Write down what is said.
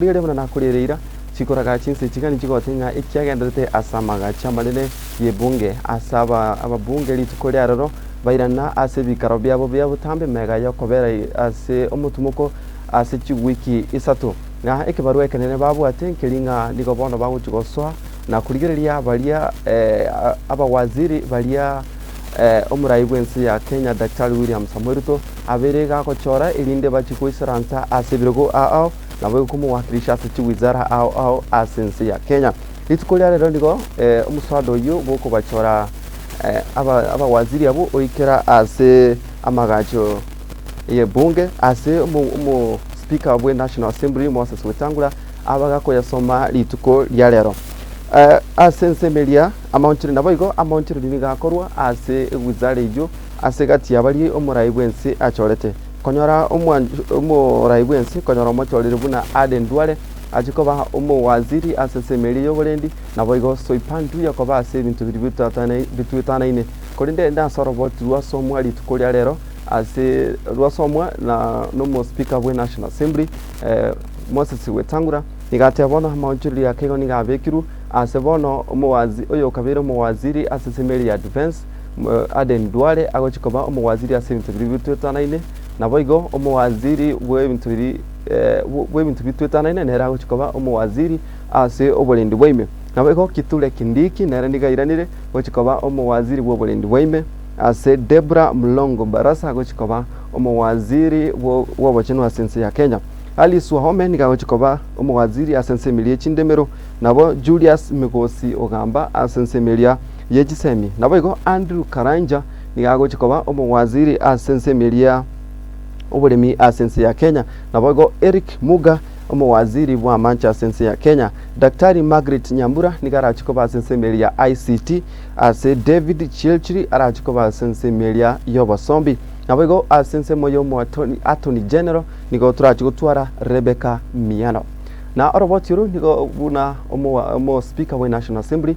Riria buna nakorire ira, chikoraga chinsa echi gani chigote ng'a ekiagenderete as'amagacho amanene y'ebunge ase aba ababunge rituko riaroro bairana ase ebikaro biabo bia botambe mega y'okobera ase omotumoko ase chigwiki isato, ng'a ekebarwa ekenene babwate nkeri ng'a nigo bono bagochia gosoa na korigereria baria abawaziri baria omorai bw'ense ya Kenya Daktari William Samoei Ruto abeire iga agochora erinde bachie goisaransa ase ebirogo ao. nabo egokomowakirisha ase chiwizara ao ao ase ense ya Kenya. Rituko ria rero nigo omosaado oyio bw'okobachora abawaziri abwo oikera ase amagacho y'ebunge ase omosipika bwe National Assembly Moses Wetangula abaga koyasoma rituko ria rero. Ase ense ime eria amaonchori naboigo amaonchoreri nigo akorwa ase ewizara eyio ase egati yabaria omorai bw'ense achorete. Konyora omorai bw'ense, konyora omochoreri buna Arden Duale, achia koba omowaziri ase ensemo eria y'oborendi, naboigo Soipan Tuya koba ase ebinto biria bituetanaine. Korende ere nasoroboti rwasomwa rituko ria rero ase rwasomwa nomo speaker bwe National Assembly Moses Wetangula, nigo ateba bono amaonchoreria ake igo nigo abekirwe ase bono omokabeire omowaziri ase ensemo eria ya defence, Aden Duale agochia koba omowaziri ase ebinto biria bitoetanaine. Naboigo omowaziri bw'ebinto biria bw'ebinto bitoetanaine nere agochia koba omowaziri ase oborendi bwaime. Naboigo Kithure Kindiki nere nigo airanire gochia koba omowaziri bw'oborendi bwaime. Ase Debra Mlongo Barasa agochia koba omowaziri bw'obochenu ase ense ya Kenya. Alice Wahome nigo agochia koba omowaziri ase ense emeria ye chindemero. Nabo Julius Migosi Ogamba ase ense emeria. ye chisemi. Naboigo Andrew Karanja nigo agochia koba omowaziri ase ensemi eria ya oboremi ase ense ya Kenya. Naboigo Eric Muga omowaziri bw'amache ase ense ya Kenya. Daktari Margaret Nyambura nigo arachie koba ase ensemi eria ya ICT ase David Chirchiri arachie koba ase ensemi eria y'obosombi. Naboigo ase ensemo y'omoatoni attorney general nigo torachie gotwara Rebecca Miano. Na oroboti oro nigo buna omo omo speaker bwe National Assembly